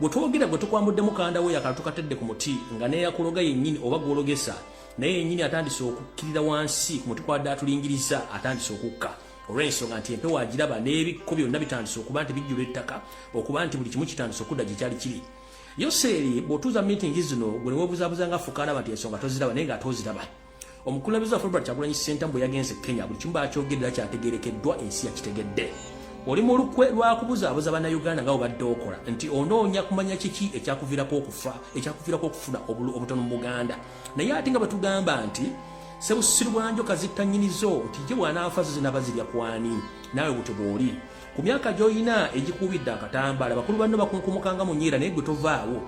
gwe twogera gwe tukwambudde mukanda wo yakala tukatedde ku muti nga neyakuloga yennyini oba gwologesa naye yennyini atandise okukkirira wansi ku muti kwadde atulingiriza atandise okukka olw'ensonga nti empewo agiraba n'ebikko byonna bitandise okuba nti bijjula ettaka okuba nti buli kimu kitandise okudda gye kyali kiri yoseeri bw'otuuza miitingi zino gwe ne weebuzaabuzanga fukaanaba nti ensonga toziraba naye nga ate oziraba Omukulabiza Robert Kyagulanyi Ssentamu bwe yagenze Kenya buli kimu bakyogerera kyategeerekeddwa ensi yakitegedde. Oli mu lukwe lwa kubuzaabuza Bannayuganda nga obadde okola nti onoonya kumanya kiki ekyakuviirako okufa ekyakuviirako okufuna obutono mu Buganda naye ate nga batugamba nti sebusiru bwanjo kazitta nnyinizo nti ye bw'anaafa zo zinaba zirya kwani naawe butyo bw'oli ku myaka gy'olina egikuubidde akatambaala bakulu banno bakunkumukanga mu nyiira naye gwe tovaawo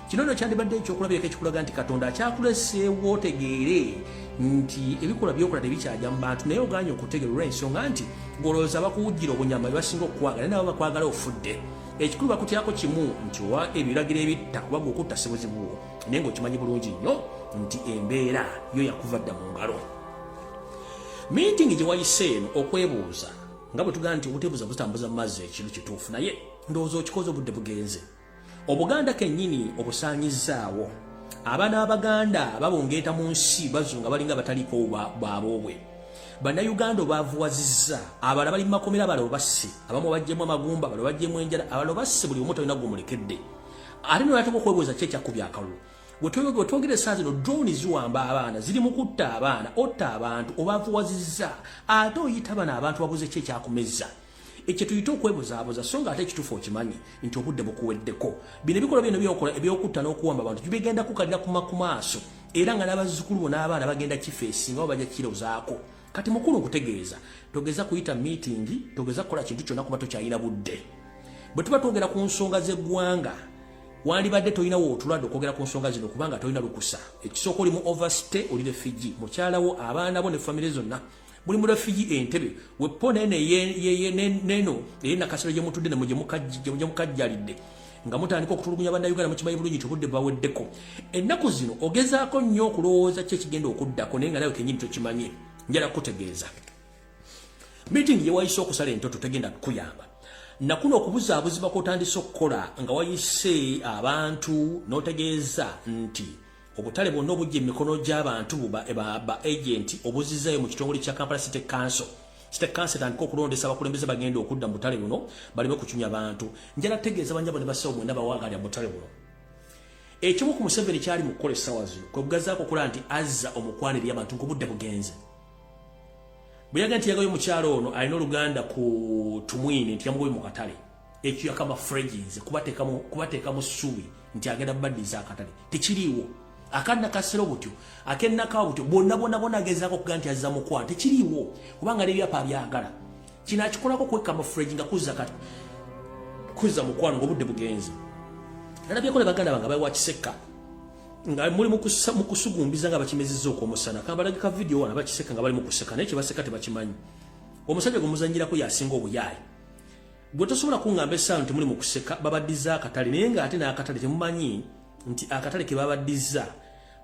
kino no kyandibadde ekyokulabirako ekikulaga nti katonda akyakuleseewo otegeere nti ebikolwa byokola tebikyagya mu bantu naye oganye okutegeera olw'ensonga nti golowooza bakuwujjira obunyama bebasinga okukwagala naye nabo bakwagala ofudde ekikulu bakutyako kimu nti owa ebiragiro ebitta kuba gwe okutta sibuzibuwo naye ngaokimanyi bulungi nnyo nti embeera yo yakuva dda mu ngalo miitingi gye wayise eno okwebuuza nga bwe tugamba nti obutebuza butambuza mu mazzi ekintu kituufu naye ndowooza okikoze obudde bugenze obuganda kennyini obusaanyizzaawo abaana abaganda babungeeta mu nsi bazu nga balinga bataliiko bwaboobwe bannayuganda obaavuwazizza abala bali mu makomera abala obasse abamu bajjemu amagumba abala bajjemu enjala abala obasse buli omu talina gumulekedde ate nolatuka okwebuuza ki ekyakubya akalulu wetwebega otwogera esaa zino drone ziwamba abaana ziri mu kutta abaana otta abantu obavuwaziza ate oyita bana abantu babuze ki ekyakumezza ekyo tuyite okwebuzaabuza so nga ate ekituufu okimanyi nti obudde bukuweddeko bino ebikolwa bino byokola ebyokutta n'okuwamba abantu tibigenda kukalira kuma ku maaso era nga n'abazzukulu bo n'abaana bagenda kifeesi nga babajja kirozaako kati mukulu nkutegeeza togeza kuyita miitingi togeza kukola kintu kyonna kuba tokyalina budde bwe tuba twogera ku nsonga z'eggwanga wandibadde tolina wootulwadde okwogera ku nsonga zino kubanga tolina lukusa ekisooka oli mu overstay oli refugee mukyalawo abaana bo ne famire zonna muli mu refugee entebe wepo neno eye nakasero gye mutudde nemwe gye mukajjalidde nga mutandika okutulugunya bannayuganda mukimanyi bulungi nti obudde bwaweddeko ennaku zino ogezaako nnyo okulowooza ki ekigenda okuddako naye nga nawe kenyini tokimanye njala kutegeeza meeting ye wayise okusala entoto tegenda kukuyamba nakuno okubuzaabuzibwa kwotandise okukola nga wayise abantu notegeeza nti obutale bwonna obujja emikono gy'abantu buba ba agenti obuzizayo mu kitongole kya kampala city council state council tandika okulondesa abakulembeze bagenda okudda mu butale buno baleme kucumya bantu njala tegeeza banyabo ne basawo mwena bawagalya mu butale buno ekimu ku museveni kyali mu kukola essaawa zino kwe bugazaako okulaba nti azza omukwano eri abantu ng'obudde bugenze bweyaga nti yagayo mukyalo ono alina oluganda ku tumwine nti yamugoye mu katale ekyo yakama freginze kubateekamu ssuubi nti agenda bubaddiza akatale tekiriiwo akanna kasera obutyo akennaka obutyo bwonna bwonna bwonna agezaako okuga nti azza mukwano tekiriiwo kubanga nebyapa byagala kino akikolako kwekka mufuregi nga kuzza kati kuzza mukwano ngaobudde bugenze nalabyeko ne baganda bange abawa kisekka nga muli mukusugumbiza nga bakimezizza okwomusana kabalage ka vidiyo wana bakiseka nga bali mukuseka naye kyebaseka tebakimanyi omusajja gwe muzanyirako yasinga obuyaayi gwe tosobola kungamba esaawa nti muli mukuseka babaddiza akatale naye nga ate n'akatale temumanyi nti akatale ke babaddiza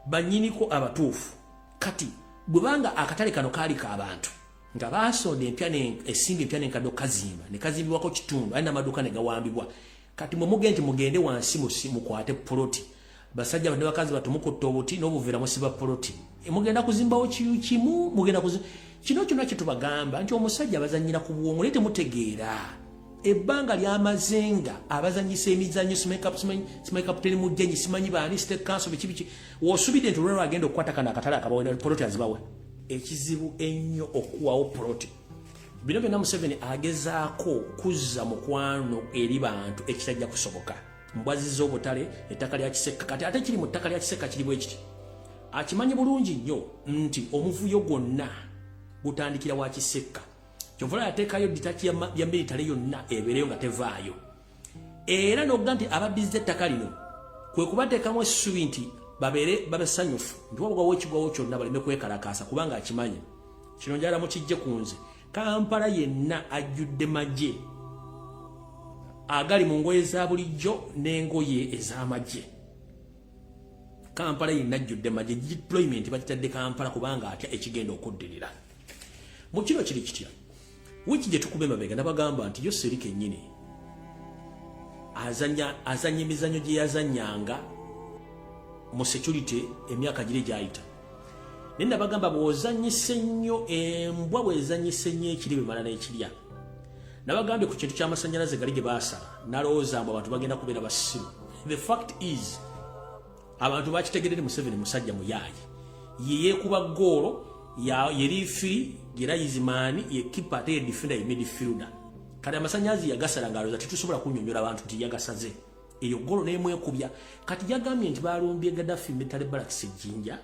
banyiniko abatuufu kati bwebanga akatale kano kaali ka bantu nga baasonda empya esimbi empya nenkadde okukazimba ne kazimbibwako kitundu aye n'amaduuka ne gawambibwa kati mwe mugende nti mugende wansi mukwate poloti basajja ne bakazi batu mukutte obuti n'obuveera musiba poloti e, mugenda kuzimbawo kimu mugenda kuzimba kino kyona kyetubagamba nti omusajja abazanyira ku bwongo naye temutegeera ebbanga lyamazenga abazanyisa emizanyo simanyi kaputeni mujjanyi simanyi baani state council bikibiki wosubidde nti olwalwo agenda okukwata kana akatale akabawe poloti azibawe ekizibu ennyo okuwawo poloti bino byonna museveni agezaako kuzza mukwano eri bantu ekitajja kusoboka mbwaziza obutale ettaka lya kiseka kati ate kiri mu ttaka lya kiseka kiri bwe kiti akimanyi bulungi nnyo nti omuvuyo gwonna gutandikira wa kiseka kyovula yateekayo dita ya militale yonna ebeereyo nga tevaayo era nokuga nti abadizza ettaka lino kwe kubateekamu essubi nti babeere babesanyufu nti wabugwawo ekigwawo kyonna baleme kwekalakaasa kubanga akimanyi kino njala mukijje ku nze kampala yenna ajjudde magye agali mu ngoye za bulijjo n'engoye ez'amagye kampala yenna ajjudde magye deployment bakitadde kampala kubanga atya ekigenda okuddirira mu kino kiri kitya wiiki gye tukuba emabega nabagamba nti yo seri kennyini azanya emizanyo gye yazanyanga mu security emyaka giri gyayita naye nabagamba bwozanyisa ennyo embwa bwezanyisa ennyo ekiri bemala n'ekirya nabagambye ku kintu ky'amasannyalaze gali ge baasala nalowooza mbu abantu bagenda kubeera basimu the fact is abantu bakitegedde museveni musajja muyaaye yeyekuba goolo yeri firi yera izimaani yekipa ate yedifenda yemedi filda kati amasanyazi yagasala ngaloza tetusobola kunyonyola abantu nti yagasaze eyo goolo nemwekubya kati yagambye nti balumbye gadafi mitale balakisa ejjinja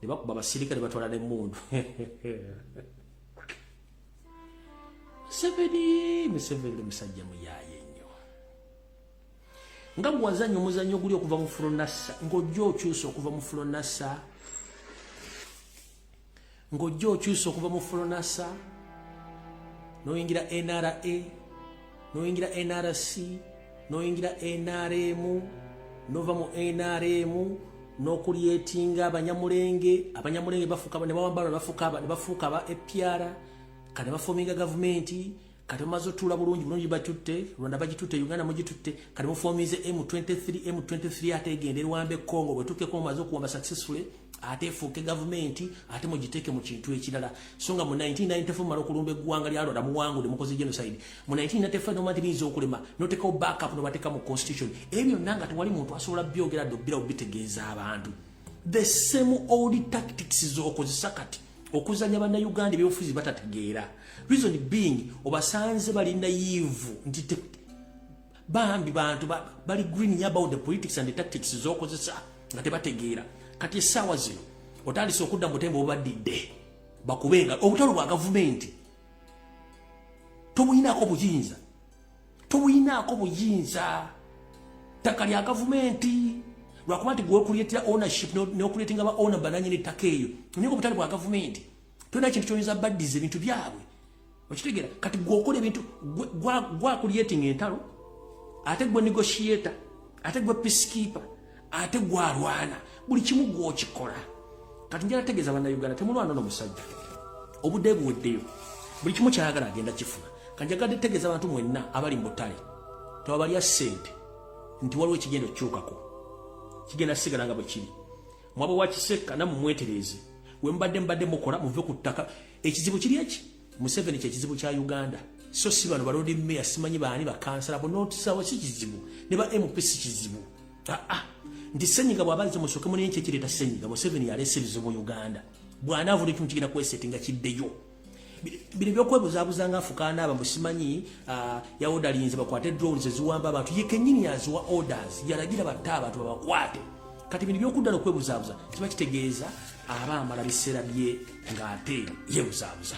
ne bakuba abasirikale batwala nemundu museveni museveni musajja muyaaye nga gwe wazannya omuzannyo oguli okuva mu fulonassa ng'ojja okyusa okuva mu fulonassa ng'ojja okyusa okuva mu fulonassa n'oyingira nra n'oyingira nrc n'oyingira nrm n'ova mu nrm n'okulyetinga abanyamulenge abanyamulenge bafuuka ne bawambala ne bafuuka aba apr kati bafominga gavumenti kati mumaze otuula bulungi bulungi batutte rwanda bagitutte uganda mugitutte kati mufomize m23 m23 ate egende rwambe congo bwetukeko mumaze okuwamba successfully ate efuuke gavumenti ate mugiteeke mu kintu ekirala so nga mu 1994 mumala okulumba eggwanga lya rwanda muwangude mukoze genocide mu 1994 noma nti biyinza okulema notekawo backup nobateeka mu constitution ebyo byonna nga tewali muntu asobola byogera dde obirawo bitegeeza abantu the same old tactics zokozesa kati okuzanya bannayuganda ebyobufuzi batategeera reason being obasanze bali nayivu nti bambi bantu bali greening about the politics and the tactics zokozesa nga tebategeera kati essaawa zino otandise okudda mu butembo bubadidde bakubenga obutalo bwa gavumenti tomuyinako buyinza tobuyinaako buyinza ttaka lya gavumenti lwakuba nti gweokuleetera ownership nokuleetinga ba owner bananyini ettaka eyo naye obutale bwa gavumenti tolina ekintu kyoyinza baddiza ebintu byabwe okitegera kati gweokola ebintu gwakuleetinga entalo ate gwe negotiator ate gwe peacekeeper ate gwalwana buli kimu gwokikola kati njala tegeza bana Uganda temulwana no musajja obude buweddeyo buli kimu kyayagala agenda kifuna kanjagadde tegeza abantu mwenna abali mu butale tewabalya sente nti waliwo ekigenda okukyukako kigenda sigala nga bwe kiri mwaba wakisekka namumwetereeze wembadde mbadde mukola muve ku ttaka ekizibu kiri eki Museveni kye kizibu kya Uganda so si bano balodi meya simanyi baani bakansala bonotisawo si kizibu ne ba MP si kizibu aa ah, ah. nti senyiga bwabaze musoke mune nkye kireta senyiga Museveni yalese ebizibu mu Uganda bwanaavula ekintu kigenda kwesete nga kiddeyo bino byokwebuzabuza nga afukaana aba musimanyi ah, yaodalinze bakwate drones eziwamba abantu ye kenyini yaziwa orders yalagira batte abantu babakwate kati bino byokudda nokwebuzabuza kiba kitegeeza aba amala biseera bye ng'ate yebuzaabuza